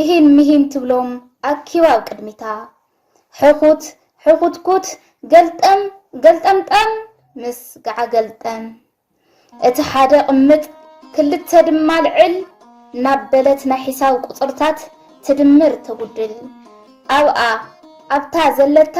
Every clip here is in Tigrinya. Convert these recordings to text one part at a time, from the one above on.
ኢሂን ምሂን ትብሎም ኣኪባ ኣብ ቅድሚታ። ሕኹት ሕኹትኩት ገልጠም ገልጠምጠም ምስ ገዓገልጠም። እቲ ሓደ ቅምጥ ክልተ ድማ ልዕል ናበለት ናይ ሒሳብ ቁጽርታት ትድምር ተጉድል። ኣብኣ ኣብታ ዘለታ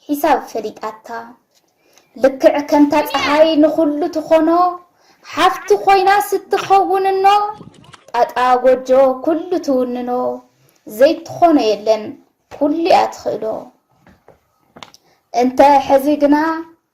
ሒሳብ ፈሊጣታ ልክዕ ከምታ ጸሓይ ንኹሉ ትኾኖ ሓፍቲ ኮይና ስትኸውን እኖ ጣጣ ጎጆ ኩሉ ትውንኖ ዘይትኾኖ የለን ኩሉ'ያ ትኽእሎ እንተ ሕዚ ግና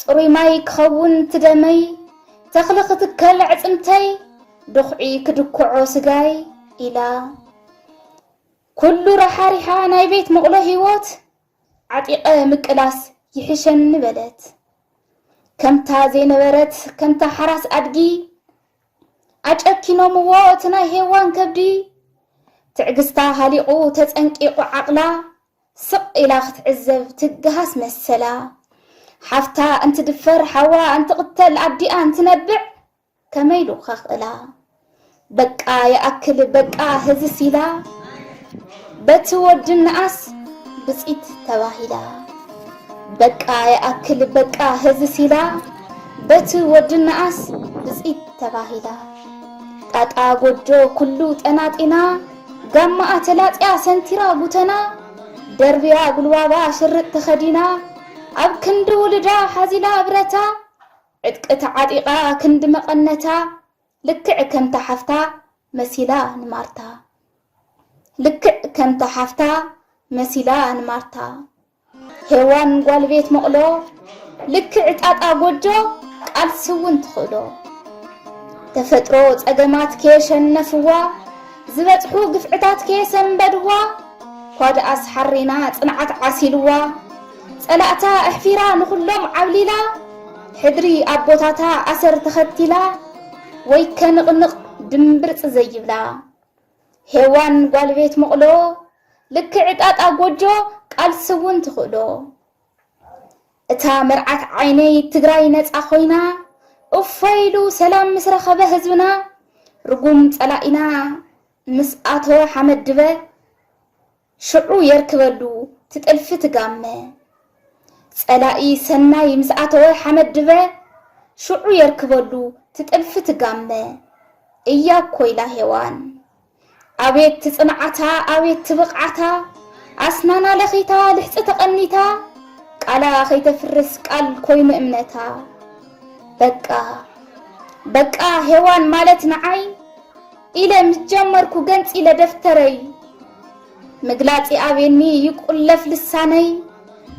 ጽሩይ ማይ ክኸውን እቲ ደመይ ተኽሊ ክትከል ኣዕጽምተይ ድኹዒ ክድኩዖ ስጋይ ኢላ ኩሉ ራሓሪሓ ናይ ቤት መቕሎ ህይወት ዓጢቐ ምቅላስ ይሕሸኒ በለት ከምታ ዘይነበረት ከምታ ሓራስ ኣድጊ ኣጨኪኖምዎ እቲ ናይ ሄዋን ከብዲ ትዕግስታ ሃሊቑ ተጸንቂቑ ዓቕላ ስቕ ኢላ ክትዕዘብ ትግሃስ መሰላ። ሓፍታ እንትድፈር፣ ሓዋ እንትቕተል፣ ኣዲኣ እንትነብዕ ከመይ ኢሉ ከኽእላ? በቃ ይኣክል በቃ ህዝስ ኢላ በቲ ወዲ እንኣስ ብጺት ተባሂላ። በቃ ይኣክል በቃ ህዝስ ኢላ በቲ ወዲ እንኣስ ብጺት ተባሂላ። ጣጣ ጎጆ ኩሉ ጠናጢና ጋማኣ ተላጽያ ሰንቲራ ጉተና ደርብያ ጉልባባ ሽርጥ ተኸዲና ኣብ ክንዲ ውሉዳ ሓዚላ ብረታ ዕጥቂ ተዓጢቓ ክንዲ መቐነታ ልክዕ ከምታ ሓፍታ መሲላ ንማርታ ልክዕ ከምታ ሓፍታ መሲላ ንማርታ ሄዋን ጓል ቤት መቕሎ ልክዕ ጣጣ ጎጆ ቃልሲ እውን ትኽእሎ ተፈጥሮ ጸገማት ከየሸነፍዋ ዝበጽሑ ግፍዕታት ከየሰንበድዋ ኳድኣስ ሓሪና ጽንዓት ዓሲልዋ ጸላእታ ኣሕፊራ ንኹሎም ዓብሊላ ሕድሪ ኣቦታታ ኣሰር ተኸቲላ ወይ ከንቕንቕ ድምብርጽ ዘይብላ ሄዋን ጓል ቤት መቕሎ ልክዕ ጣጣ ጎጆ ቃልሲ እውን ትኽእሎ እታ መርዓት ዓይነይ ትግራይ ነፃ ኮይና እፎይ ኢሉ ሰላም ምስ ረኸበ ህዝብና ርጉም ፀላኢና ምስ ኣተወ ሓመድ ድበ ሽዑ የርክበሉ ትጥልፊ ትጋመ። ጸላኢ ሰናይ ምስ ኣተወ ሓመድ ድበ ሽዑ የርክበሉ ትጥልፊ ትጋመ። እያኮ ኢላ ሄዋን። ኣቤት ትጽንዓታ ኣቤት ትብቕዓታ ኣስናና ለኺታ ልሕጺ ተቐኒታ ቃላ ከይተፍርስ ቃል ኮይኑ እምነታ። በቃ በቃ ሄዋን ማለት ንዓይ ኢለ ምስ ጀመርኩ ገንጺለ ደፍተረይ ምግላጽ ይኣብየኒ ይቁለፍ ልሳነይ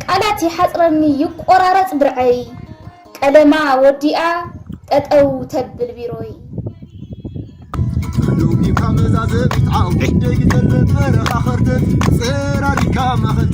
ቃላት ይሓጽረኒ ይቆራረጽ ብርዐይ ቀለማ ወዲኣ ጠጠው ተብል ቢሮይ ሎሚካ መዛዘሚት ዓውደይ ተረፈረኻ ኸርተት ጽራሪካ ማኸት